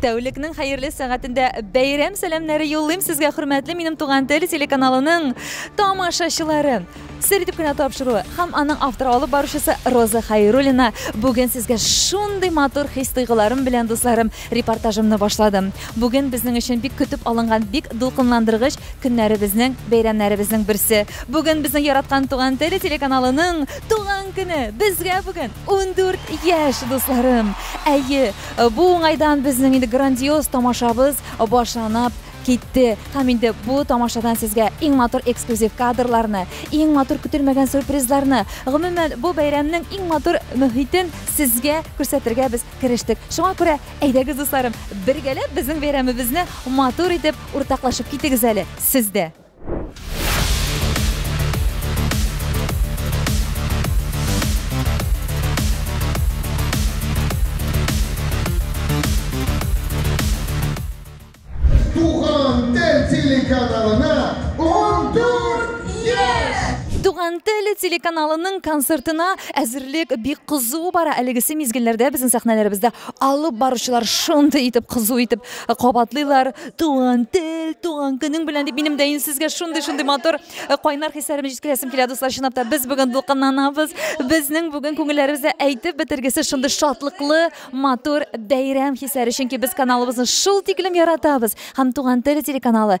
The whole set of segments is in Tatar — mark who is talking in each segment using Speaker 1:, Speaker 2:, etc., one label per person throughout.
Speaker 1: Тәүлекнең хәерле сәгатендә бәйрәм сәламнәре юллыйм сезгә, хөрмәтле минем туган тел телеканалының тамашачылары. Сер итеп кенә тапшыруы һәм аның авторы алып баручысы Роза Хайруллина бүген сезгә шундый матур хис-тойгыларым белән, дусларым, репортажымны башладым. Бүген безнең өчен бик көтеп алынган, бик дулкынландыргыч көннәребезнең, бәйрәмнәребезнең берсе. Бүген безнең яраткан туган тел телеканалының туган көне! Безгә бүген 14 яшь, дусларым! Әйе, Бу уңайдан безнең инде грандиоз тамашабыз башланып китте. Һәм инде бу тамашадан сезгә иң матур эксклюзив кадрларны, иң матур көтелмәгән сюрпризларны, гомумән, бу бәйрәмнең иң матур мөхитен сезгә күрсәтергә без керештек. Шуңа күрә, әйдәгез, дусларым, бергәләп безнең бәйрәмебезне матур итеп уртаклашып китегез әле сез дә.
Speaker 2: телеканалына 14 еш! Туган теле
Speaker 1: телеканалының концертына әзерлек бик кызу бара. Әлегесе мизгелләрдә безнең сәхнәләребездә алып баручылар шундый итеп кызу итеп Э, кабатлыйлар туган тел туган көнең белән дип минем дә инде сезгә шундый шундый матур э, кайнар хисләремне җиткерәсем килә дуслар чынлап та без бүген дулкынланабыз безнең бүген күңелләребездә әйтеп бетергесез шундый шатлыклы матур бәйрәм хисләре чөнки без каналыбызны шул тиклем яратабыз һәм туган тел телеканалы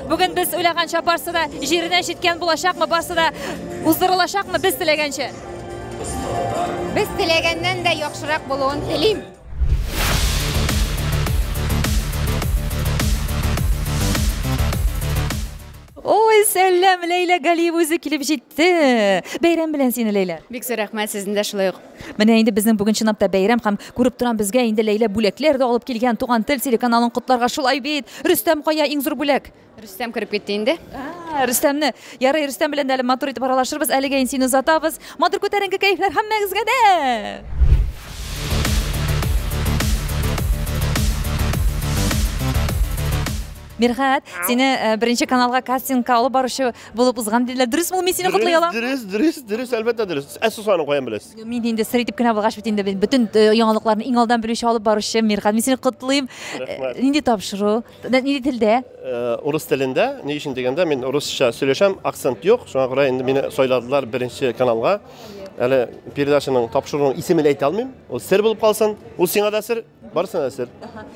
Speaker 1: Бүген без уйлаганча барсы да җиренә җиткән булачакмы, барсы да уздырылачакмы без теләгәнчә?
Speaker 3: Без теләгәннән дә яхшырак булуын телим.
Speaker 1: Ой, сәлам, Ләйлә Галиева үзе килеп җитте. Бәйрәм белән сине, Ләйлә. Бик зур рәхмәт сезне дә
Speaker 3: шулай ук. Менә инде безнең бүген
Speaker 1: чынлап та бәйрәм һәм күреп торам безгә инде Ләйлә бүләкләр дә алып килгән Туган тел телеканалын котларга шулай бит. Рөстәм кая иң зур бүләк? Рөстәм кереп китте инде.
Speaker 3: Ә, Рөстәмне.
Speaker 1: Ярый, Рөстәм белән дә әле матур итеп аралашырбыз. Әлегә ин сине озатабыз. Матур күтәренке кәефләр һәммәгезгә дә! Мирхәт, сине э, беренче каналга кастингка алып баручы Булып узган диләр. Дөресме ул? Мин сине котлый алам. Дөрес, дөрес, дөрес, әлбәттә
Speaker 4: дөрес. Ә сусаны каян беләсез? Мин инде сер итеп кенә
Speaker 1: булгач бит инде мин бөтен э, яңалыкларны иң алдан белүче алып баручы Мирхан. Мин сине котлыйм. Рәхмәт. Э, Нинди тапшыру? Нә- Нинди телдә? Э, Урыс телендә,
Speaker 4: ни өчен дигәндә, мин урысча сөйләшәм, акцент юк. Шуңа күрә инде мине сайладылар беренче каналга. Әле передачаның тапшыруның исемен әйтә алмыйм. Ул сер булып калсын. Ул сиңа да сер. Барсы да сер.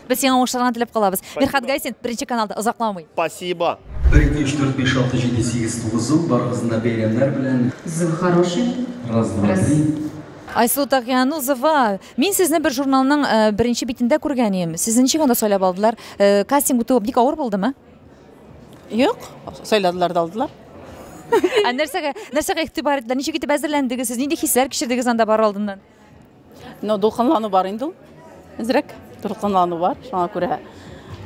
Speaker 4: Без сиңа уңышларны
Speaker 1: теләп калабыз. Мирхат Гайсин, беренче каналда озакламый. Спасибо. 1, 2, 3, 4, 5, 6, 7, 8, 9 ел
Speaker 4: барыгызны да
Speaker 5: бәйрәмнәр белән. Зыл
Speaker 3: хороший. Раз,
Speaker 5: два, три. Айсылу
Speaker 1: Тагианузова, мин сезне бер журналның э, беренче битендә күргән идем. Сезне ничек анда сайлап алдылар? Э, Кастинг үтү бик авыр булдымы?
Speaker 6: Юк, сайладылар да алдылар. Ә нәрсәгә, нәрсәгә
Speaker 1: игътибар иттеләр? Ничек итеп әзерләндегез сез? Нинди хисләр кичердегез анда бар алдыннан? Но
Speaker 6: дулкынлану бар инде ул. Әзрәк дулкынлану бар. Шуңа күрә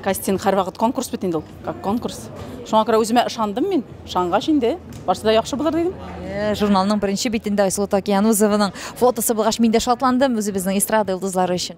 Speaker 6: кастинг һәрвакыт конкурс бит инде ул. Как конкурс. Шуңа күрә үземә ышандым мин. Ышангач инде барсы да яхшы булыр дидем. Э, журналның беренче
Speaker 1: битендә Айсылу Такиянузованың фотосы булгач мин дә шатландым үзебезнең эстрада йолдызлары өчен.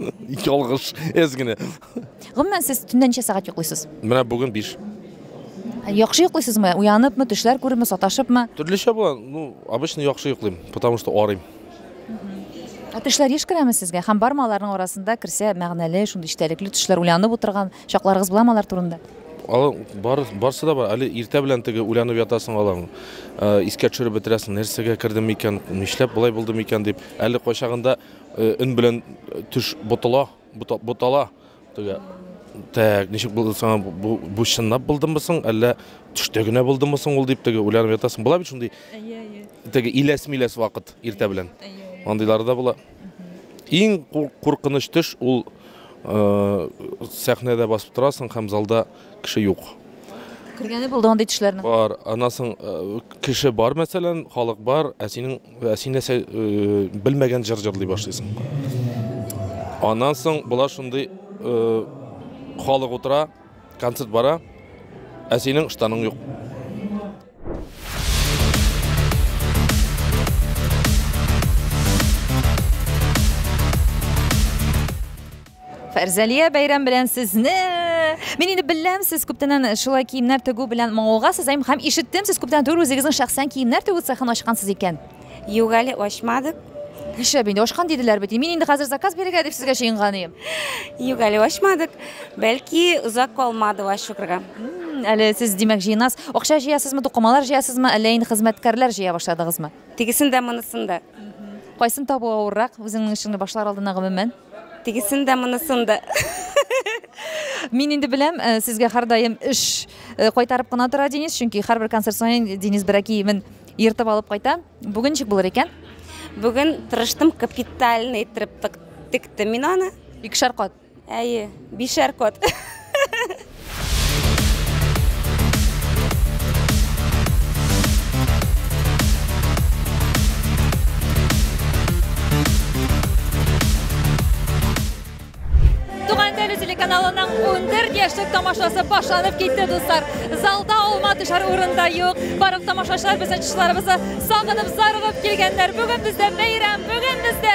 Speaker 1: Ялгыш,
Speaker 7: әз генә. Гомумән, сез
Speaker 1: төнлә ничә сәгать йоклыйсыз? Менә бүген 5.
Speaker 7: Яхшы
Speaker 1: йоклыйсызмы? Уяныпмы, төшләр күрепме, саташыпмы? Төрлечә була. Ну,
Speaker 7: обычно яхшы йоклыйм, потому что арыйм.
Speaker 1: Ә төшләр еш керәме сезгә? Һәм бармы аларның арасында керсә мәгънәле, шундый эчтәлекле төшләр, уйланып утырган чакларыгыз буламы алар турында? Алар бар,
Speaker 7: барсы да бар. Әле иртә белән теге уйланып ятасың аларны. Искә төшереп бетерәсең, нәрсәгә кердем икән, нишләп болай булдым икән дип. Әле кайчагында Э, өн белән э, төш ботала, ботала. Төгә. Так, ничек булды саңа бу, бу чынлап булдымы соң, әллә төштә генә булдымы соң ул дип теге уйланып ятасың. Була бит шундый. Әйе, әйе. Теге иләс миләс вакыт иртә белән. Андыйлары да була. Иң куркыныч төш ул э, сәхнәдә басып торасың һәм залда кеше юк. Кергәне
Speaker 1: булды андый төшләрнең? Бар. Аннан соң
Speaker 7: э, кеше бар, мәсәлән, халык бар, ә синең ә син нәрсә э, белмәгән җыр җырлый башлыйсың. Аннан соң болар шундый э, халык утыра, концерт бара, ә синең штаның юк.
Speaker 1: Фәрзәлия, бәйрәм белән сезне! Мин инде беләм, сез күптәннән шулай киемнәр тегү белән мавыгасыз һәм һәм ишеттем, сез күптән түгел үзегезнең шәхсән киемнәр тегү цехын ачкансыз икән. Юк әле
Speaker 3: ачмадык. Нишләп инде
Speaker 1: ачкан диделәр бит. Мин инде хәзер заказ бирергә дип сезгә чыенган идем. Юк әле
Speaker 3: ачмадык. Бәлки озак калмады ачырга. Әле сез
Speaker 1: димәк җыенас. Акча җыясызмы, тукымалар җыясызмы, әллә инде хезмәткәрләр җыя башладыгызмы? Тегесен дә, монысын
Speaker 3: да. Кайсын табу
Speaker 1: авыррак, үзеңнең эшеңне башлар алдына гомумән? Тегесен дә,
Speaker 3: монысын да.
Speaker 1: Мин инде беләм, э, сезгә һәрдаим эш э, кайтарып кына тора Денис, чөнки һәрбер концерт саен Денис бер киемен ертып алып кайта. Бүген ничек булыр икән? Бүген
Speaker 3: тырыштым капитально иттереп тык- тектем мин аны. Икешәр кат.
Speaker 1: Әйе.
Speaker 3: Бишәр кот.
Speaker 1: Туган теле телеканалының 14 яшьлек тамашасы башланып китте, дуслар. Залда алма төшәр урында юк. Барлык тамашачылар безнең чышларыбызны сагынып, зарыгып килгәннәр. Бүген бездә бәйрәм, бүген бездә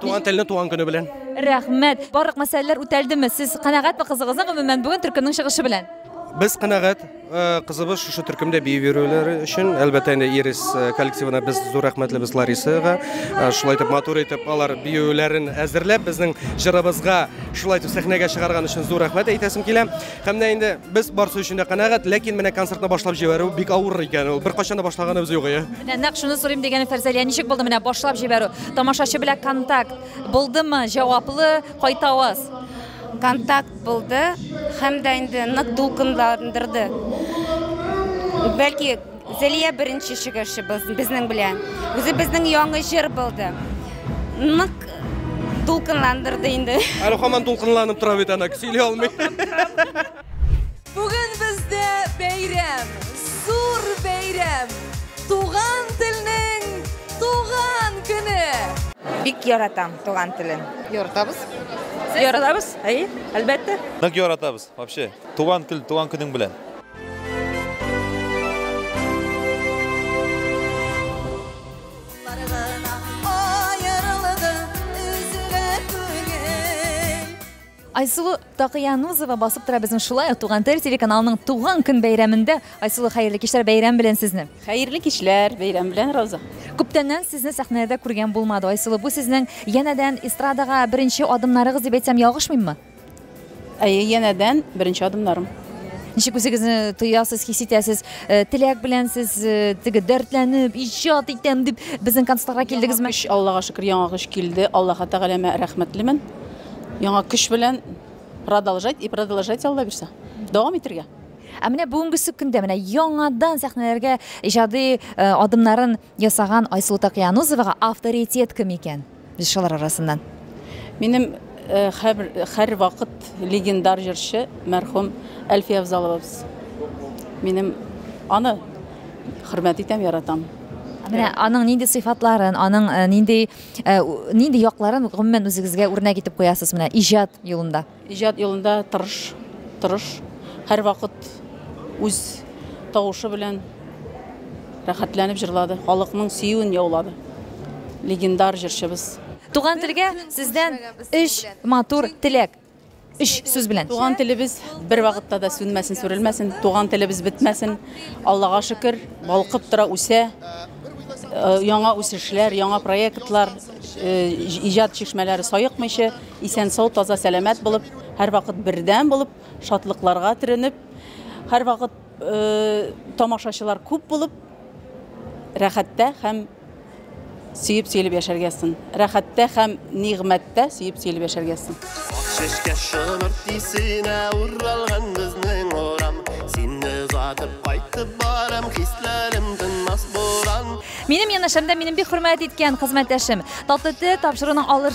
Speaker 8: Туган телне туган көне белән. Рәхмәт. Барлык
Speaker 1: мәсьәләләр үтәлдеме? Сез канәгатьме кызыгызның гомумән бүген төркемнең чыгышы белән? Без канәгать
Speaker 8: э, кызыбыз шушы төркемдә бию бирүләре өчен. Әлбәттә инде Ирис э, коллективына без зур рәхмәтлебез Ларисага. Э, шулай итеп матур итеп алар биюләрен әзерләп безнең җырыбызга шулай итеп сәхнәгә чыгарган өчен зур рәхмәт әйтәсем килә. Һәм дә инде без барсы өчен дә канәгать, ләкин менә концертны башлап җибәрү бик авыр икән ул. Беркайчан да башлаганыбыз юк ия. Менә нәкъ шуны сорыйм дигәнем
Speaker 1: Фәрзәлия, ничек булды менә башлап җибәрү? Тамашачы белән контакт булдымы? Җаваплы, кайта аваз? Контакт
Speaker 3: булды һәм дә инде нык дулкынландырды. Бәлки Зәлия беренче чыгышыбыз безнең белән. Үзе безнең яңа җыр булды. Нык дулкынландырды инде. Әле хаман дулкынланып
Speaker 8: тора бит ана, сөйли алмый. Бүген
Speaker 1: бездә бәйрәм, зур бәйрәм. Туган телнең туган көне. Бик
Speaker 3: яратам туган телен. Яратабыз.
Speaker 9: Яратабыз,
Speaker 1: әйе, әлбәттә. Нык яратабыз,
Speaker 9: вообще. Туган тел, туган көнең белән. Айсулу Такыянузова басып тора безнең шулай Туган тел телеканалының туган көн бәйрәмендә. Айсулу хәерле кичләр бәйрәм белән сезне. Хәерле кичләр
Speaker 6: бәйрәм белән Роза. Күптәннән сезне
Speaker 1: сәхнәдә күргән булмады. Айсулу, бу сезнең янәдән эстрадага беренче адымнарыгыз дип әйтсәм ягышмыйммы? Әйе,
Speaker 6: янәдән беренче адымнарым. Ничек үзегезне
Speaker 1: тоясыз, хис итәсез? Э, теләк белән сез э, теге дәртләнеп, иҗат итәм дип безнең концертка килдегезме? Көч, Аллага шөкер, яңа көч
Speaker 6: килде. Аллаһы Тәгаләмә рәхмәтлемен. Яңа көч белән продолжать и продолжать Алла бирсә. Дәвам итәргә. Ә менә бүгенге
Speaker 1: көндә менә яңадан сәхнәләргә иҗади э, адымнарын Ясаган Айсылу Такиянузовага авторитет кем икән? Җырчылар арасыннан. Минем
Speaker 6: хәр, хәр вакыт легендар җырчы мәрхүм Әлфия Авзаловабыз. Минем аны хөрмәт итәм, яратам. Менә аның
Speaker 1: нинди сыйфатларын, аның нинди нинди якларын гомумән үзегезгә үрнәк итеп куясыз менә иҗат юлында? Иҗат юлында
Speaker 6: тырыш, тырыш, һәрвакыт үз тавышы белән рәхәтләнеп җырлады, халыкның сөюен яулады легендар җырчыбыз. Туган телгә
Speaker 1: сездән өч матур теләк, өч сүз белән. Туган телебез
Speaker 6: бервакытта да сүнмәсен, сүрелмәсен, туган телебез бетмәсен. Аллага шөкер, балкып тора, үсә. Яңа үсешләр, яңа проектлар, иҗат чишмәләре саекмыйча. Исән-сау, таза-сәламәт булып, һәрвакыт бердәм булып, шатлыкларга төренеп, һәрвакыт тамашачылар күп булып, рәхәттә һәм сөеп-сөелеп яшәргә язсын. Рәхәттә һәм нигъмәттә сөеп-сөелеп яшәргә язсын. Чәчкә
Speaker 4: шомырт исенә уралган безнең урам. Сине озатып кайтып барам, хисләрем тынмас буран. Минем янәшәмдә
Speaker 1: минем бик хөрмәт иткән хезмәттәшем, татлы тел тапшыруның алыр.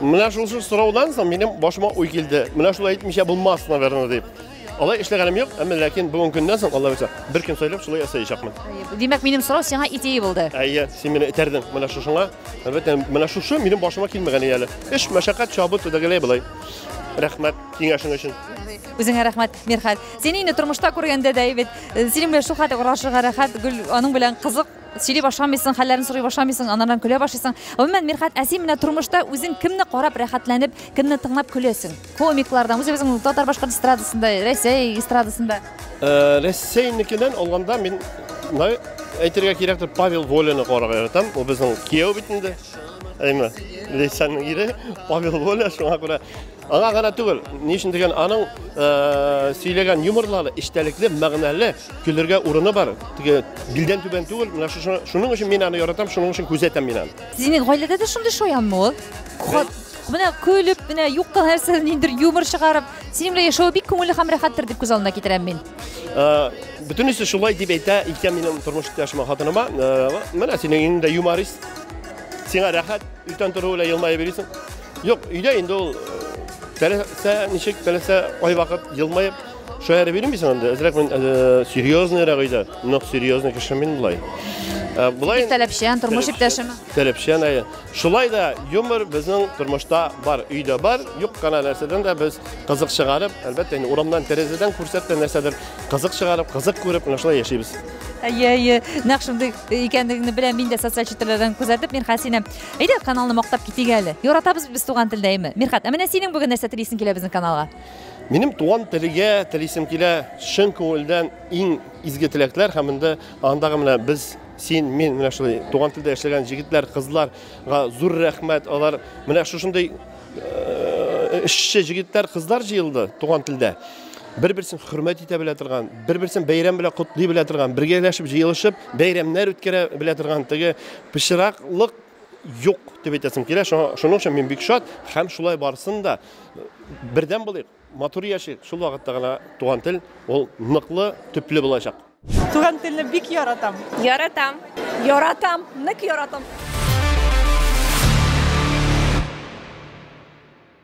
Speaker 1: Менә шул
Speaker 4: шул сораудан соң минем башыма уй килде. Менә шулай әйтмичә булмас, наверное, дип. Алай эшләгәнем юк, әмма ләкин бүгенге көннән соң Алла үзә бер көн сайлап шулай ясаячакмын. Димәк, минем сорау
Speaker 1: сиңа идея булды. Әйе, син мине этәрдең
Speaker 4: менә шушыңа. Әлбәттә, менә шушы минем башыма килмәгән иде әле. Эш, мәшәкать, чабу, төгәләй булай. Рәхмәт киңәшең өчен. Үзеңә рәхмәт,
Speaker 1: Мирхәт. Сине инде тормышта күргәндә дә бит, э, синең белән шул хәтле урашырга рәхәт, гөл, аның белән кызык сөйли башламыйсың, хәлләрен сорый башламыйсың, анардан көлә башлыйсың. Гомумән, Мирхат, ә син менә тормышта үзең кемне карап рәхәтләнеп, кемне тыңлап көләсең? Комиклардан, үзебезнең татар башкорт эстрадасында, Рәсәй эстрадасында. Э, Рәсәйнекедән
Speaker 4: алганда мин әйтергә кирәктер, Павел Воляны карарга яратам. Ул безнең кияү бит инде. Әйме, Лейсанның ире Павел Воля, шуңа күрә Аңа гына түгел, ни өчен дигән аның сөйләгән юморлары эчтәлекле, мәгънәле, көлергә урыны бар. Теге билдән түбән түгел. Менә шуның өчен мин аны яратам, шуның өчен күзәтәм мин аны. Димәк, гаиләдә дә шундый
Speaker 1: шаянмы ул? Менә көлеп, менә юкка нәрсәдән ниндер юмор чыгарып, синең белән яшәве бик күңелле һәм рәхәттер дип күз алдына китерәм мин.
Speaker 4: Бөтенесе шулай дип әйтә икән минем тормыш иптәшемә, хатыныма. Менә синең иңдә юморист. Сиңа рәхәт, иртән тору белән елмаеп йөрисең. Юк, өйдә инде ул теләсә ничек, теләсә кайвакыт елмаеп, шаярып йөрмисең син анда. Әзрәк мин серьезныйрак өйдә. Нык серьезный кеше мин болай. Болай таләпчән, тормыш
Speaker 1: иптәшеме? Таләпчән, әйе.
Speaker 4: Шулай да юмор безнең тормышта бар, өйдә бар. Юк кына нәрсәдән дә без кызык чыгарып, әлбәттә, инде урамнан тәрәзәдән күрсәтте нәрсәдер, кызык чыгарып, кызык күреп, менә шулай яшибез. Әйе, әйе.
Speaker 1: Нәкъ шундый икәнлегеңне беләм мин дә социаль челтәрләрдән күзәтеп мирхәт сине әйдә каналны мактап китик әле яратабыз без туган телдә әйме мирхәт ә менә синең бүген нәрсә телисең килә безнең каналга Минем туган
Speaker 4: телегә телисем килә чын күңелдән иң изге теләкләр һәм инде андагы менә без син мин менә шулай туган телдә яшәгән җегетләр кызларга зур рәхмәт алар менә шушындый э, эшче җегетләр кызлар җыелды туган телдә бер-берсен хөрмәт итә белә торган, бер-берсен бәйрәм белән котлый белә торган, бергәләшеп җыелышып, бәйрәмнәр үткәрә белә торган теге пычраклык юк дип әйтәсем килә. Шуның өчен мин бик шат һәм шулай барсын да бердәм булыйк, матур яшик. Шул вакытта гына туган тел ул ныклы, төпле булачак. Туган телне
Speaker 6: бик яратам. Яратам.
Speaker 3: Яратам,
Speaker 6: нык яратам.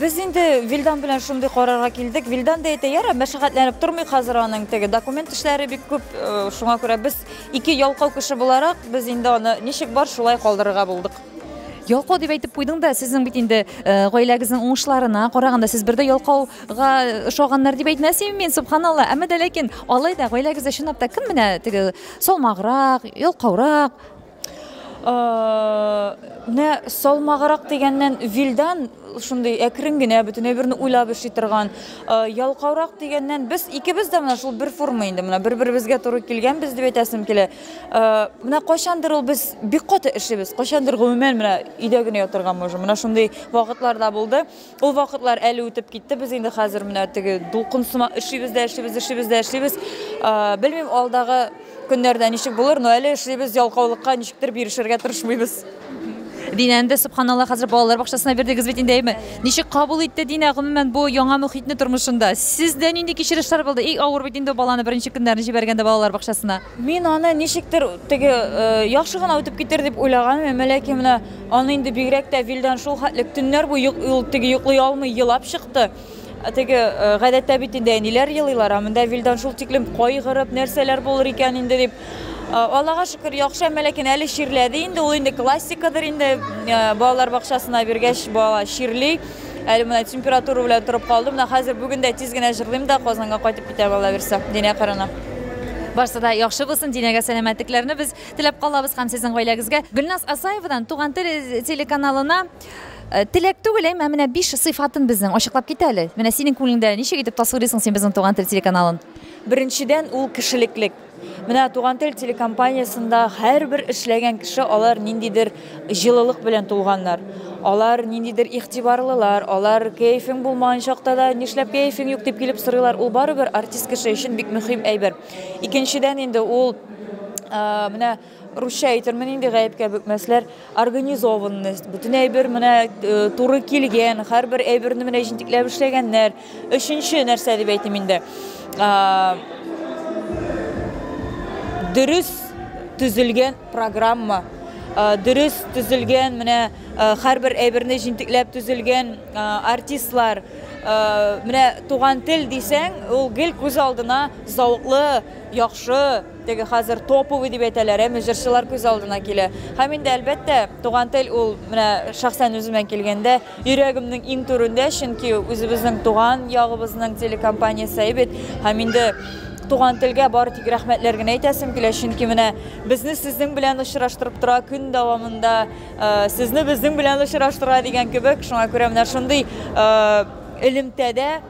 Speaker 1: Без инде
Speaker 10: Вилдан белән шундый карарга килдек. Вилдан да әйтә, ярар, мәшәкатьләнеп тормый хәзер аның теге документ эшләре бик күп. Э, шуңа күрә без ике ялкау кеше буларак, без инде аны ничек бар, шулай калдырырга булдык. Ялкау дип
Speaker 1: әйтеп куйдың да, сезнең бит инде э, гаиләгезнең уңышларына караганда, сез бер дә ялкауга ошаганнар дип әйтмәс идем мин, субханалла. Әмма дә ләкин алай да гаиләгездә чынлап та кем менә теге салмаграк, ялкаурак?
Speaker 10: Менә салмагырак дигәннән Вилдан шундый әкрен генә бөтенләй берне уйлап эшли торган. Ялкаурак дигәннән без икебез дә менә шул бер форма инде менә бер-беребезгә туры килгәнбез дип әйтәсем килә. Менә кайчандыр ул без бик каты эшлибез. Кайчандыр гомумән менә өйдә генә ятырга можем. Менә шундый вакытлар да булды. Ул вакытлар әле үтеп китте, без инде хәзер менә теге дулкын сымак эшлибез дә эшлибез, эшлибез дә эшлибез. Белмим, алдагы көннәрдә ничек булыр, но әле эшлибез, ялкаулыкка ничектер бирешергә тырышмыйбыз. Динә,
Speaker 1: инде, сөбханалла, хәзер балалар бакчасына бирдегез бит инде, әйеме? Ничек кабул итте Динә, гомумән, бу яңа мөхитне тормышында? Сездә нинди кичерешләр булды? И, авыр бит инде баланы беренче көннәрен җибәргәндә балалар бакчасына. Мин аны ничектер
Speaker 10: теге яхшы гына үтеп китер дип уйлаган идем, ләкин менә аны инде бигрәк тә Вилдан шул хәтлек төннәр буе ул теге йоклый алмый елап чыкты. Теге гадәттә бит инде әниләр елыйлар, ә монда Вилдан шул тиклем кайгырып, нәрсәләр булыр икән инде дип. Аллага шөкер, яхшы, әмма ләкин әле чирләде инде, ул инде классикадыр инде, балалар бакчасына биргәч, бала чирли. Әле менә температура белән торып калды. Менә хәзер бүген дә тиз генә җырлыйм да Казанга кайтып китәм Алла бирсә. Динә кырына. Барсы да
Speaker 1: яхшы булсын, Динәгә сәламәтлекләрне без теләп калабыз һәм сезнең гаиләгезгә. Гөлназ Асаевадан Туган тел э, телеканалына э, теләк түгел, әмма менә биш сыйфатын безнең ачыклап кит әле. Менә синең күңелеңдә ничек итеп тасвирлыйсың син безнең Туган тел телеканалын? Беренчедән,
Speaker 10: ул кешелеклек. Менә Туган тел телекомпаниясендә һәрбер эшләгән кеше алар ниндидер җылылык белән тулганнар. Алар ниндидер игътибарлылар, алар кәефең булмаган чакта да, нишләп кәефең юк дип килеп сорыйлар. Ул барыбер артист кеше өчен бик мөһим әйбер. Икенчедән инде ул менә русча әйтермен инде гаепкә бөкмәсләр организованность бөтен әйбер менә э, туры килгән һәрбер әйберне менә җентекләп эшләгәннәр өченче нәрсә дип әйтим инде дөрес төзелгән программа э, дөрес төзелгән менә э, һәрбер әйберне җентекләп төзелгән артистлар менә туган тел дисәң ул гел күз алдына зауклы яхшы Теге хәзер топовый дип әйтәләр, әме җырчылар күз алдына килә. Һәм инде, әлбәттә, туган тел ул, менә шәхсән үземә килгәндә, йөрәгемнең иң түрендә, чөнки үзебезнең туган ягыбызның телекомпаниясе бит. Һәм инде туган телгә бары тик рәхмәтләр генә әйтәсем килә, чөнки менә безне сезнең белән очраштырып тора көн дәвамында, сезне безнең белән очраштыра дигән кебек. Шуңа күрә менә шундый элемтәдә,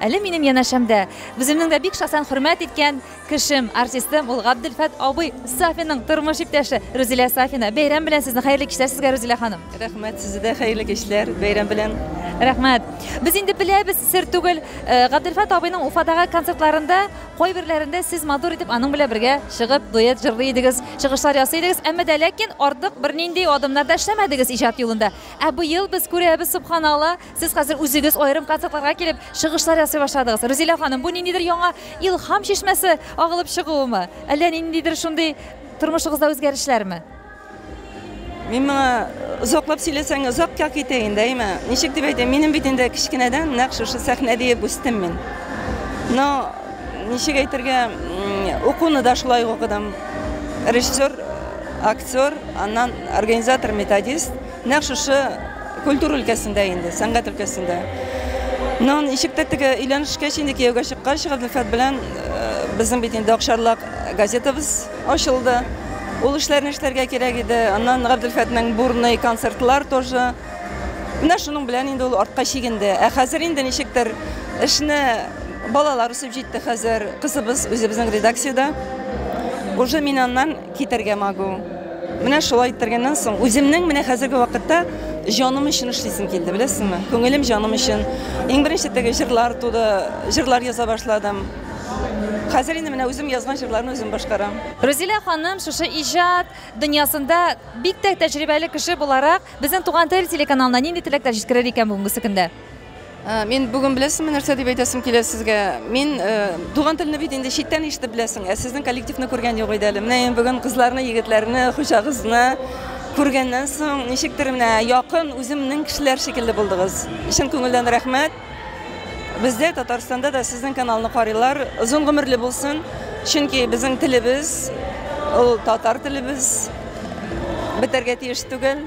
Speaker 1: Әле минем янәшәмдә үземнең дә бик шәхсән хөрмәт иткән кешем, артистым, ул Габделфәт абый Сафинның тормыш иптәше Рүзилә Сафина. Бәйрәм белән сезне, хәерле кичләр сезгә, Рүзилә ханым. Рәхмәт, сезгә дә хәерле
Speaker 11: кичләр, бәйрәм белән. Рәхмәт.
Speaker 1: Без инде беләбез, сер түгел, э, Габделфәт абыйның Уфадагы концертларында кайберләрендә сез матур итеп аның белән бергә чыгып, дуэт җырлый идегез, чыгышлар ясый идегез, әмма дә ләкин артык бернинди адымнар да эшләмәдегез иҗат юлында. Ә быел без күрәбез, субханалла, Сез хәзер үзегез аерым концертларга килеп, чыгышлар ясый башладыгыз. Рузилә ханым, бу ниндидер яңа илһам чишмәсе агылып чыгуымы? Әллә ниндидер шундый тормышыгызда үзгәрешләрме?
Speaker 11: Мин моңа озаклап сөйләсәң, озакка китә инде, әйме? Ничек дип әйтәм, минем бит инде кечкенәдән нәкъ шушы сәхнә диеп үстем мин. Но ничек әйтергә, укуны да шулай укыдым. Режиссер, актер, аннан организатор, методист. Нәкъ шушы культура өлкәсендә инде, сәнгать өлкәсендә. Но ничек тә теге өйләнешкә инде кияүгә чыккач, Гаделфәт белән безнең бит инде Акшарлак газетабыз ачылды. Ул эшләрне эшләргә кирәк иде. Аннан Гаделфәтнең бурный концертлар тоже. Менә шуның белән инде ул артка чигенде. Ә хәзер инде ничектер эшне балалар үсеп җитте хәзер. Кызыбыз үзебезнең редакциядә. Уже мин аннан Китәргә могу. Менә шулай иттергәннән соң, үземнең менә хәзерге вакытта җаным өчен эшлисем килде, беләсеңме? Күңелем җаным өчен. Иң беренче теге җырлар туды, җырлар яза башладым. Хәзер инде менә үзем язган җырларны үзем башкарам. Рузилә ханым,
Speaker 1: шушы иҗат дөньясында бик тә тәҗрибәле кеше буларак, безнең Туган тел телеканалына нинди теләкләр җиткерер икән бүгенгесе көндә? Э, мин
Speaker 11: бүген беләсеңме нәрсә дип әйтәсем килә сезгә мин э, туган телне бит инде читтән ишетеп беләсең ә сезнең коллективны күргән юк иде әле менә ин бүген кызларны егетләрне хуҗагызны күргәннән соң ничектер менә якын үземнең кешеләр шикелле булдыгыз чын күңелдән рәхмәт бездә татарстанда да сезнең каналны карыйлар озын гомерле булсын чөнки безнең телебез ул татар телебез бетәргә тиеш түгел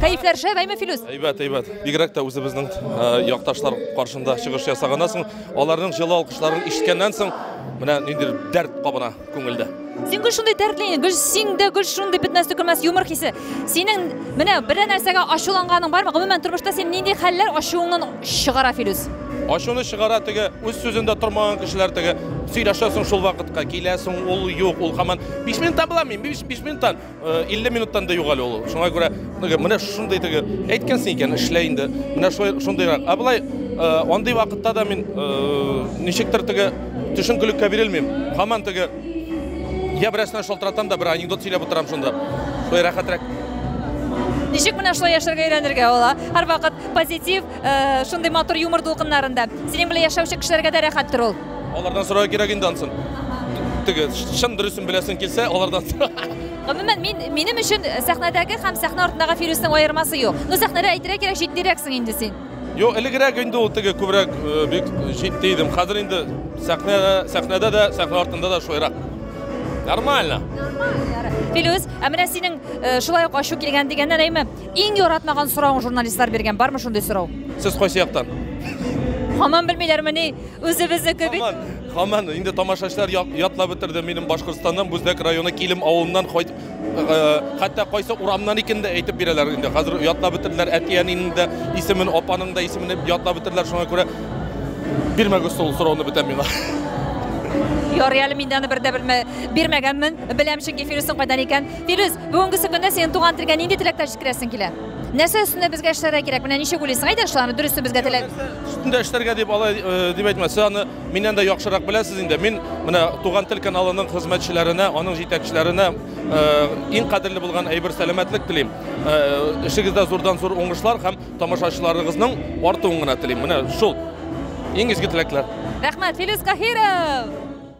Speaker 1: Кәефләр шәп, әйме Филүс? Әйбәт, әйбәт. Бигрәк
Speaker 7: тә үзебезнең э, якташлар каршында чыгыш ясаганнан соң, аларның җылы алкышларын ишеткәннән соң, менә нинди дәрт кабына күңелдә. Син гүр шундый
Speaker 1: дәртле, гүр сиңдә гүр шундый бетмәс төкермәс юмор хисе. Синең менә бер нәрсәгә ачуланганың бармы? Гомумән тормышта син нинди хәлләр ачуыңнан чыгара Филүс? Ачуны чыгара
Speaker 7: теге, үз сүзендә тормаган кешеләр теге. Сөйләшәсең шул вакытка, киләсең, ул юк, ул хаман. 5 минуттан була мин, 5 минуттан, 50 э, минуттан да югал ул. Шуңа күрә теге менә шундый теге әйткәнсең икән, эшлә инде. Менә шулай шундыйрак. Ә болай э, андый вакытта да мин э, ничектер теге төшенкелеккә бирелмим. Хаман теге я берәрсенә шалтыратам да бер анекдот сөйләп утырам шунда. Шулай рәхәтрәк.
Speaker 1: Ничек менә шулай яшәргә өйрәнергә була? Һәрвакыт позитив, Э, шундый матур юмор дулкыннарында. Синең белән яшәүче кешеләргә дә рәхәттер ул. Алардан сорау кирәк инде
Speaker 7: ансын. Теге чын дөресен беләсең килсә, алардан сора. Гомумән,
Speaker 1: мин минем өчен сәхнәдәге һәм сәхнә артындагы Фирүснең аермасы юк. Ну, сәхнәдә әйтергә кирәк, җитдирәксең инде син. Йо, элегрәк
Speaker 7: инде ул теге күбрәк э, бик җитди идем. Хәзер инде сәхнәдә, сәхнәдә дә, сәхнә артында да шулайрак. Нормально.
Speaker 1: Филүс, ә менә синең э, шулай ук ачу килгән дигәннән, әйме? Иң яратмаган соравың журналистлар биргән, бармы шундый сорау? Сез кайсы яктан?
Speaker 7: Хаман
Speaker 1: белмиләрмени? Үзебезнеке бит. Хаман, хаман, инде
Speaker 7: тамашачылар ятлап бетерде. Минем Башкортстаннан, Бүздәк районы Килем авылыннан кайт хәтта кайсы урамнан икән дә әйтеп бирәләр инде. Хәзер ятлап бетерделәр әти-әнинең дә исемен, апаның да исемен ятлап бетерделәр. Шуңа күрә бирмәгез шул сорауны бүтән миңа.
Speaker 1: Ярый әле мин дә аны бер дә белмә, бирмәгәнмен. Беләм чөнки Фирүснең кайдан икән. Фирүз, бүгенгесе көндә синең туган телгә нинди теләкләр җиткерәсең килә? Нәрсә өстендә безгә эшләргә кирәк? Менә ничек уйлыйсың? Әйдә шуларны дөресен безгә теләп. Өстендә эшләргә дип
Speaker 7: алай э, дип әйтмә. Сез аны миннән дә яхшырак беләсез инде. Мин менә Туган тел каналының хезмәтчеләренә, аның җитәкчеләренә э, иң кадерле булган әйбер сәламәтлек телим. Э, эшегездә зурдан зур уңышлар һәм тамашачыларыгызның артуын гына телим. Менә шул иң изге теләкләр. Рәхмәт, Филүс
Speaker 1: Каһиров!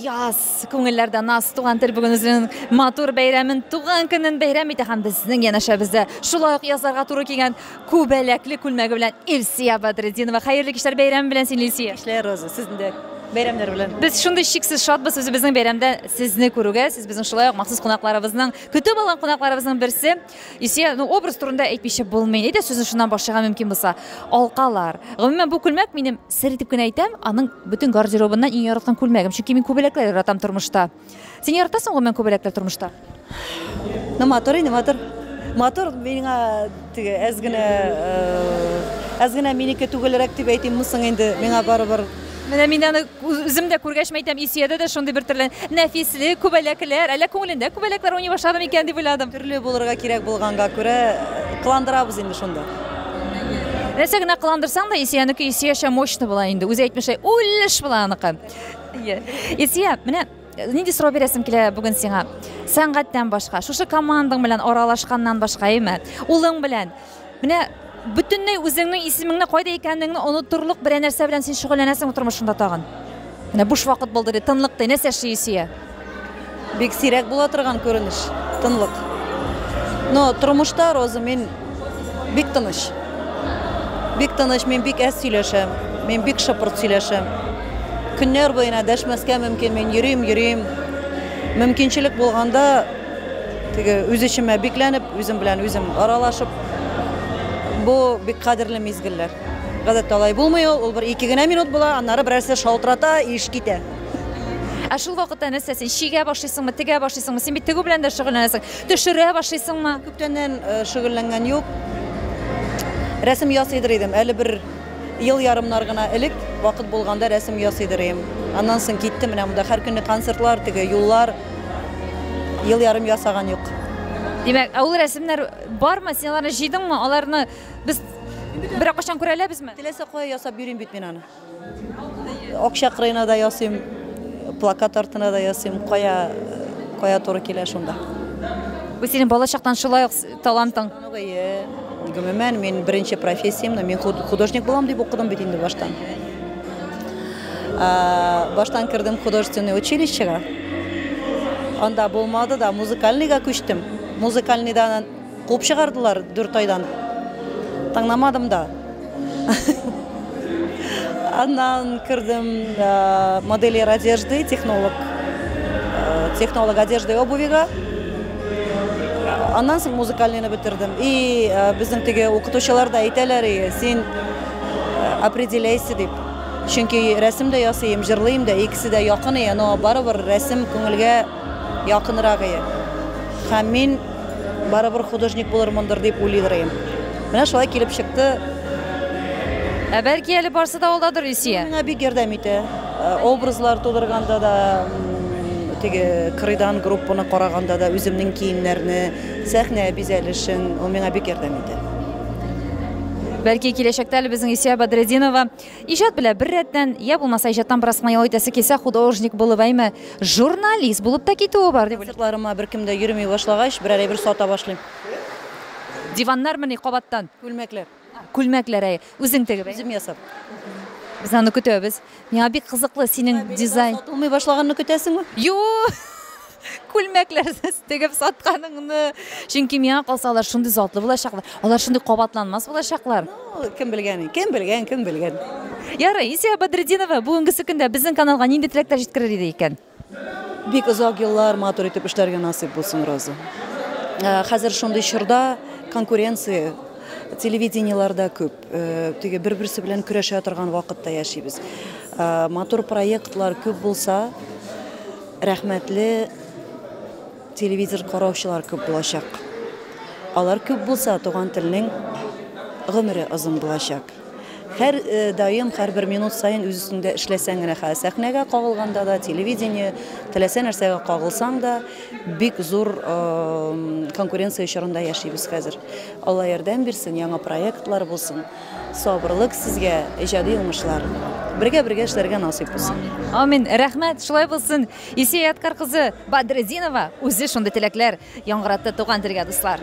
Speaker 1: Яз, күңелләрдә наз, туган тел бүген үзенең матур бәйрәмен, туган көнен бәйрәм итә һәм безнең янәшәбездә шулай ук язларга туры килгән күбәләкле күлмәге белән Илсия Бадретдинова. Хәерле кичләр бәйрәм белән сине, Илсия. Кичләр, Роза, сезне дә
Speaker 11: бәйрәмнәр белән. Без шундый чиксез шатбыз
Speaker 1: үзебезнең бәйрәмдә сезне күрүгә. Сез безнең шулай ук махсус кунакларыбызның, көтеп алган кунакларыбызның берсе. Исә, ну, образ турында әйтмичә булмый. Әйдә сүзне шуннан башларга мөмкин булса. Алкалар. Гомумән бу күлмәк минем сер итеп кенә әйтәм, аның бөтен гардеробыннан иң яраткан күлмәгем, чөнки мин күбәләкләр яратам тормышта. Син яратасың гомумән күбәләкләр тормышта? Ну,
Speaker 11: матур инде, матур. Матур миңа теге әз генә э, әз генә минеке түгелрәк дип әйтимме соң инде, миңа барыбер. Менә мин аны
Speaker 1: Үзем дә күргәч мәйтәм, Исиядә дә шундый бер төрле нәфислек, күбәләкләр, әллә күңелендә күбәләкләр уйный башлады микән дип уйладым. Төрле булырга кирәк
Speaker 11: булганга күрә, кыландырабыз инде шунда.
Speaker 1: Нәрсә генә кыландырсаң да, Исиянеке Исиячә мощный була инде. Үзе әйтмешли, үлеш була аныкы. Ие. Исия, менә э, нинди сорау бирәсем килә бүген сиңа? Сәнгатьтән башка, шушы командаң белән аралашканнан башка, әйме? Улың белән Менә бөтенләй үзеңнең исемеңне кайда икәнеңне онытырлык берәр нәрсә белән син шөгыльләнәсең тормышыңда тагын. Менә буш вакыт булды ди, тынлык ди. Нәрсә эшли Илсөя? Бик
Speaker 11: сирәк була торган күренеш, тынлык. Но тормышта, Роза, мин бик тыныч. Бик тыныч, мин бик әз сөйләшәм, мин бик шыпырт сөйләшәм.
Speaker 12: Көннәр буена дәшмәскә мөмкин, мин йөрим, йөрим. Мөмкинчелек булганда, Теге үз эчемә бикләнеп, үзем белән үзем аралашып, бу бик кадерле мизгелләр. Гадәттә алай булмый ул, ул бер ике генә минут була, аннары берәрсе шалтырата, иш китә. Ә
Speaker 9: шул вакытта нәрсә син чигә башлыйсыңмы, тегә башлыйсыңмы? Син бит тегү белән дә шөгыльләнәсең. Төшерә башлыйсыңмы? Күптәннән э,
Speaker 12: шөгыльләнгән юк. Рәсем ясыйдыр идем, әле бер ел ярымнар гына элек вакыт булганда рәсем ясыйдыр идем. Аннан соң китте менә монда һәр көнне концертлар, теге юллар, ел ярым ясаган юк. Димәк, ә ул
Speaker 9: рәсемнәр бармы? Син аларны җыйдыңмы? Аларны без берәр качан күрә алабызмы? Теләсә кая ясап йөрим
Speaker 12: бит мин аны. Акча кырыена да ясыйм, плакат артына да ясыйм, кая кая туры килә шунда. Бу синең
Speaker 9: балачактан шулай ук Талантың.
Speaker 12: Гомумән, мин беренче профессиямне мин художник булам дип укыдым бит инде баштан. Баштан кердем художественный училищега. Анда булмады да музыкальныйга күчтем. Музыкальныйдан куып чыгардылар 4 айдан. Таңнамадым да. Аннан кердем э, модельер одежды, технолог. Э, технолог одежды и обувига. Аннан соң музыкальныйны бетердем. И э, безнең теге укытучылар да әйтәләр, и, син определяйся дип. Чөнки рәсем дә ясыйм, җырлыйм да, икесе дә якын, и, но барыбер рәсем күңелгә Якынрагые. Һәм мин барыбер художник булырмындыр дип уйлыйдырыем. Менә шулай килеп чыкты.
Speaker 9: Ә бәлки әле барсы да алдадыр, Ильсия? Миңа бик ярдәм итә.
Speaker 12: Образлар тудырганда да, теге кырыйдан группаны караганда да, үземнең киемнәрне, сәхнә бизәлешен, ул миңа бик ярдәм итә.
Speaker 9: Бәлки киләчәктә әле безнең Ильсия Бәдретдинова Иҗат белә бер рәттән, я булмаса иҗаттан бераз кына ял итәсе килсә, художник булып, әйме, журналист булып та китүе бар, дип уйлыйм. Концертларыма беркем дә йөреми
Speaker 12: башлагач, берәр әйбер сата башлыйм.
Speaker 9: Диваннармыни кабаттан? Күлмәкләр.
Speaker 12: Күлмәкләр, әйе.
Speaker 9: Үзең тегеп, әйе? Үзем ясап.
Speaker 12: Без
Speaker 9: аны көтәбез. Миңа бик кызыклы синең дизайн. Сатылмый башлаганны
Speaker 12: көтәсеңме? Юк!
Speaker 9: күлмәкләрне тегеп сатканыңны чөнки миңа калса алар шундый затлы булачаклар алар шундый кабатланмас булачаклар ну, кем белгән
Speaker 12: кем белгән кем белгән ярый
Speaker 9: исия бадретдинова бүгенгесе көндә безнең каналга нинди теләкләр җиткерер иде икән бик
Speaker 12: озак еллар матур итеп эшләргә насыйп булсын роза э, хәзер шундый чорда конкуренция телевидениеларда күп Теге бер-берсе белән көрәшә торган вакытта яшибез. Матур проектлар күп булса, рәхмәтле телевизор караучылар күп булачак. Алар күп булса, туган телнең гомере озын булачак. Һәр даим, һәр бер минут саен үз өстендә эшләсәң генә, сәхнәгә кагылганда да, телевидение, теләсә нәрсәгә кагылсаң да, Бик зур конкуренция чорында яшибез хәзер. Алла ярдәм бирсен, яңа проектлар булсын. Сабырлык сезгә, иҗади уңышлар. Бергә-бергә эшләргә насыйп булсын. Амин. Рәхмәт,
Speaker 9: шулай булсын. Исия Яткар кызы Бадретдинова үзе шундый теләкләр яңгыратты туган телгә, дуслар.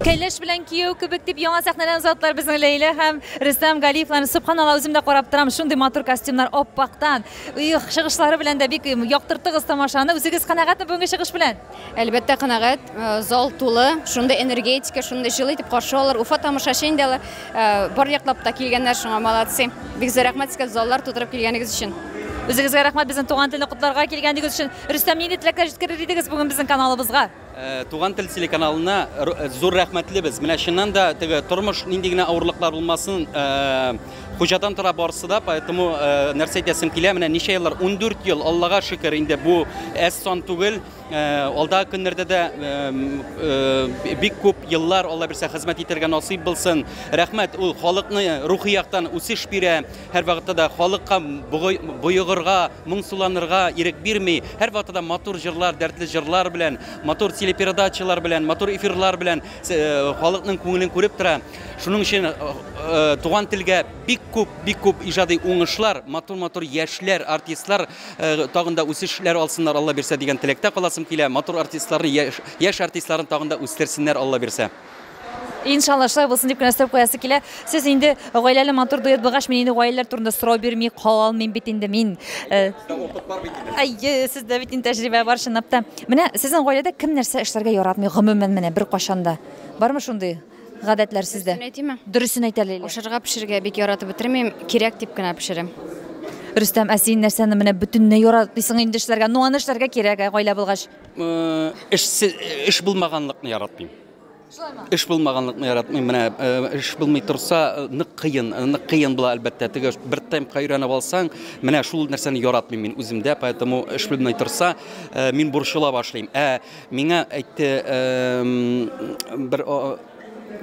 Speaker 9: Кәләш белән кияү кебек, дип яңа сәхнәдән озаттылар безнең Ләйлә һәм Рөстәм Галиевларны. Сөбханалла, үзем дә карап торам, шундый матур костюмнар, аппактан. Их, чыгышлары белән дә бик яктырттыгыз тамашаны. Үзегез канәгатьме бүгенге чыгыш белән? Әлбәттә, канәгать.
Speaker 3: Зал тулы, шундый энергетика, шундый җылы итеп каршы алалар. Уфа тамашачы инде алар. Бар яклап та килгәннәр шуңа, молодцы. Бик зур рәхмәт сезгә заллар тутырып килгәнегез өчен. Үзегезгә рәхмәт,
Speaker 9: безнең туган телне котларга килгәнегез өчен. Рөстәм, нинди теләкләр җиткерер идегез бүген безнең каналыбызга? Туган тел
Speaker 13: телеканалына зур рәхмәтлебез. Менә чыннан да теге тормыш нинди генә авырлыклар булмасын, хуҗадан тора барысы да, поэтому нәрсә әйтәсем килә, менә ничә еллар, 14 ел, Аллага шөкер, инде бу әз сан түгел. Алда көннәрдә дә бик күп еллар Алла бирсә хезмәт итәргә насыйп булсын. Рәхмәт, ул халыкны рухи яктан үсеш бирә. Һәрвакытта да халыкка боегырга, Моңсуланырга ирек бирми, һәрвакытта да матур җырлар, дәртле җырлар белән, матур телепередачалар белән, матур эфирлар белән халыкның күңелен күреп тора. Шуның өчен туган телгә бик күп, бик күп иҗади уңышлар, матур-матур яшьләр, артистлар тагын да үсешләр алсыннар, Алла бирсә, дигән теләктә каласым килә. Матур артистларны, яшь артистларны тагын да үстерсеннәр, Алла бирсә. Иншалла
Speaker 9: шулай булсын дип кенә өстәп куясы килә. Сез инде гаиләле матур дуэт булгач, мин инде гаиләләр турында сорау бирми кала алмыйм бит инде мин. Э, әйе, сездә бит инде тәҗрибә бар чынлап та. Менә сезнең гаиләдә кем нәрсә эшләргә яратмый гомумән менә беркайчан да? Бармы шундый гадәтләр сездә? Дөресен әйтимме? Дөресен әйт әле. Ашарга пешерергә бик
Speaker 3: яратып бетермим, кирәк дип кенә пешерәм. Рөстәм,
Speaker 9: ә син нәрсәне менә бөтенләй яратмыйсың инде эшләргә? Ну аны эшләргә кирәк, ә гаилә булгач. эшсез
Speaker 13: эш булмаганлыкны яратмыйм Шулаймы? Эш булмаганлыкны яратмыйм. Менә эш булмый торса, нык кыен, нык кыен була әлбәттә. Теге бер темпка өйрәнеп алсаң, менә шул нәрсәне яратмыйм мин үземдә, поэтому эш булмый торса, мин борчыла башлыйм. Ә миңа әйтте бер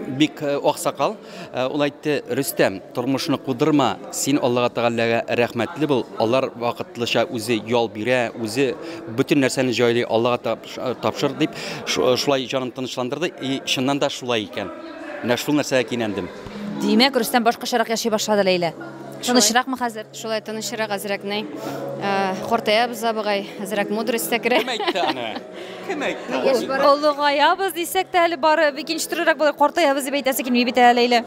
Speaker 13: Бик э, аксакал э, ул әйтте, Рөстәм, тормышны кудырма, син Аллага Тәгаләгә рәхмәтле бул. Алар вакытлыча үзе ял бирә, үзе бөтен нәрсәне җайлый, Аллага э, тапшыр дип, шулай җанын тынычландырды. И чыннан да шулай икән. Менә шул нәрсәгә кинәндем. Димәк, Рөстәм
Speaker 9: башкачарак яши башлады Ләйлә. Тынычракмы хәзер? Шулай тынычрак
Speaker 3: әзрәкней. Картаябыз абыгай, әзрәк мудрость та керә. Кем әйтте аны?
Speaker 13: Олыгаябыз
Speaker 9: дисәк тә әле бары икенче төрлерәк булыр, картаябыз дип әйтәсе килми бит әле Ләйлә.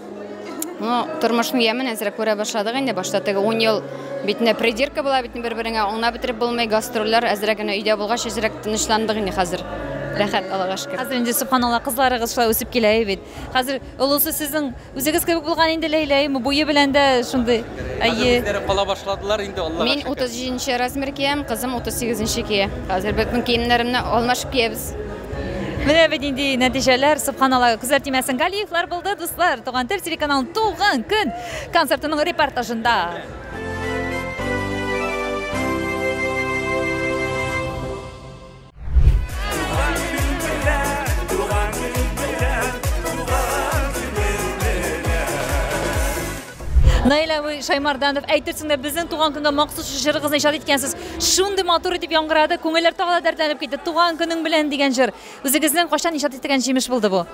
Speaker 9: Ну,
Speaker 3: тормышның ямен әзрәк күрә башладык инде. Башта теге 10 ел битне придирка була бит бер-береңә, аңна бетереп булмый, гастрольләр әзрәк генә өйдә булгач, әзрәк тынычландык инде хәзер. Рәхәт, Аллага шөкер. Хәзер инде, субханалла,
Speaker 9: кызларыгыз шулай үсеп килә бит. Хәзер олысы сезнең үзегез кебек булган инде Ләйләйме? Буе белән дә шундый. Әйе. Үзләре кала
Speaker 13: башладылар инде Аллага. Мин 37
Speaker 3: размер киям, кызым 38 кия. Хәзер бөтен киемнәремне алмашып киябез. Менә бит
Speaker 9: инде нәтиҗәләр, субханалла, күзләр тимәсен. Галиевлар булды, дуслар. Туган тел телеканалының туган көн концертының репортажында. Наилә Шаймарданов, әйтерсең дә безнең туган көнгә махсус җырыгызны иҗат иткәнсез. Шундый матур итеп яңгырады, күңелләр тагы да дәртләнеп китте. Туган көнең белән дигән җыр. Үзегезнең кайчан иҗат иткән җимеш булды бу?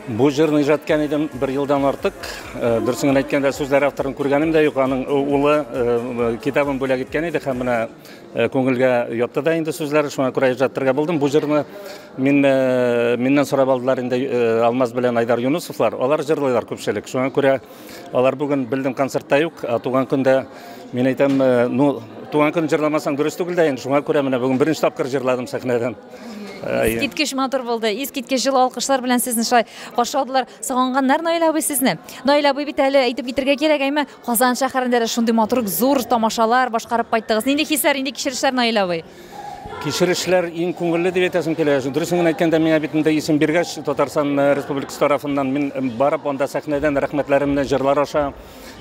Speaker 9: Бу
Speaker 14: җырны иҗат иткән идем бер елдан артык. Э, Дөресен генә әйткәндә, сүзләр авторын күргәнем дә юк. Аның э, улы э, китабын бүләк иткән иде һәм менә Э, күңелгә ятты да инде сүзләре шуңа күрә иҗаттырга булдым бу җырны мин э, миннән сорап алдылар инде э, алмаз белән айдар юнусовлар алар җырлыйлар күпчелек шуңа күрә алар бүген белдем концертта юк туган көндә мин әйтәм ну туган көн җырламасаң дөрес түгел дә инде шуңа күрә менә бүген беренче тапкыр җырладым сәхнәдән искиткеч
Speaker 9: матур булды искиткеч җылы алкышлар белән сезне шулай каршы алдылар сагынганнар наил абый сезне наил абый бит әле әйтеп китергә кирәк әйме Казан шәһәрендә дә шундый матур зур тамашалар башкарып кайттыгыз. Нинди хисләр, нинди кичерешләр, Наил абый? Кичерешләр
Speaker 14: иң күңелле дип әйтәсем килә. Дөресен генә әйткәндә, миңа бит монда исем биргәч, Татарстан э, Республикасы тарафыннан мин э, барып анда сәхнәдән рәхмәтләремне җырлар аша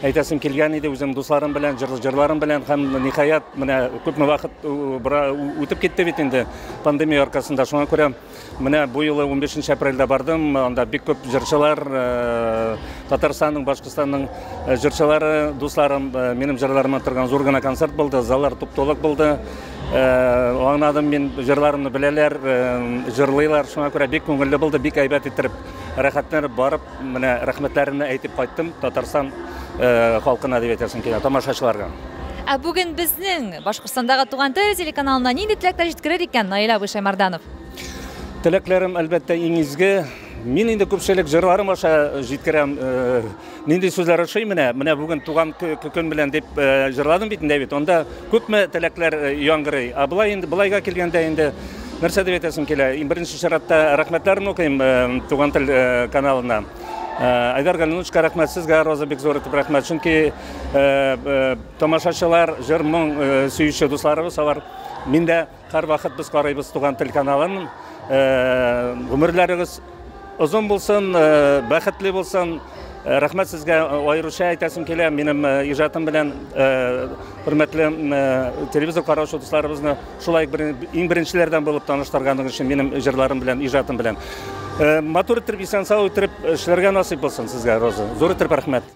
Speaker 14: әйтәсем килгән иде үзем дусларым белән, җыр, җырларым белән һәм ниһаять менә күпме вакыт э, бара үтеп китте бит инде пандемия аркасында. Шуңа күрә Менә бу юлы 15 нче апрельдә бардым, анда бик күп җырчылар, э, Татарстанның, Башкортстанның э, җырчылары, дусларым, э, минем җырларыма торган зур гына концерт булды, заллар туп-тулык булды. Аңладым мин, җырларымны беләләр, җырлыйлар, шуңа күрә бик күңелле булды, бик әйбәт иттереп, рәхәтләнеп барып, Менә рәхмәтләремне әйтеп кайттым Татарстан халкына дип әйтәсем килә, тамашачыларга. Ә бүген
Speaker 9: безнең Башкортстандагы туган тел телеканалына нинди теләкләр җиткерер икән Наил абый Шаймарданов? Теләкләрем
Speaker 14: әлбәттә иң изге. Мин инде күпчелек җырларым аша җиткерәм. Э, нинди сүзләр ошый менә? Менә бүген туган көн белән дип э, җырладым бит инде бит. Анда күпме теләкләр э, яңгырый. Ә былай инде былайга килгәндә инде Нәрсә дип әйтәсем килә? Иң беренче чиратта рәхмәтләрен укыйм э, Туган тел э, каналына. Э, Айдар Галинучка рәхмәт сезгә, Роза бик зур итеп рәхмәт. Чөнки э, э, тамашачылар, җыр моң э, сөюче дусларыбыз алар. Мин дә һәрвакыт без карыйбыз Туган тел каналын. Э, гомерләрегез Озын булсын, э, бәхетле булсын. Э, рәхмәт сезгә э, аеруча әйтәсем килә. Минем иҗатым белән хөрмәтле телевизор караучы дусларыбызны шулай иң беренчеләрдән булып таныштырганыгыз өчен минем җырларым белән, иҗатым белән. Матур итеп, исән-сау итеп эшләргә насыйп булсын сезгә, Роза. Зур итеп рәхмәт.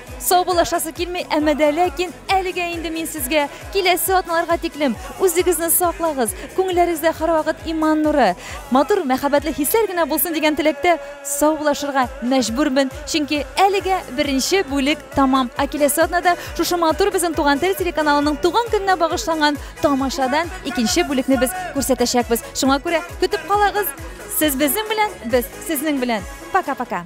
Speaker 1: Саубуллашасы килми, әмма дә ләкин әлегә инде мин сезгә киләсе атналарга тиклем үзегезне саклагыз, күңелләрегездә һәрвакыт иман нуры, матур мәхәббәтле хисләр генә булсын дигән теләктә саубуллашырга мәҗбүрмен, чөнки әлегә беренче бүлек тәмам, ә киләсе атнада шушы матур безнең Туган тел телеканалының туган көненә багышланган тамашадан икенче бүлекне без күрсәтәчәкбез. Шуңа күрә көтеп калагыз! Сез безнең белән, без сезнең белән. Пока-пока!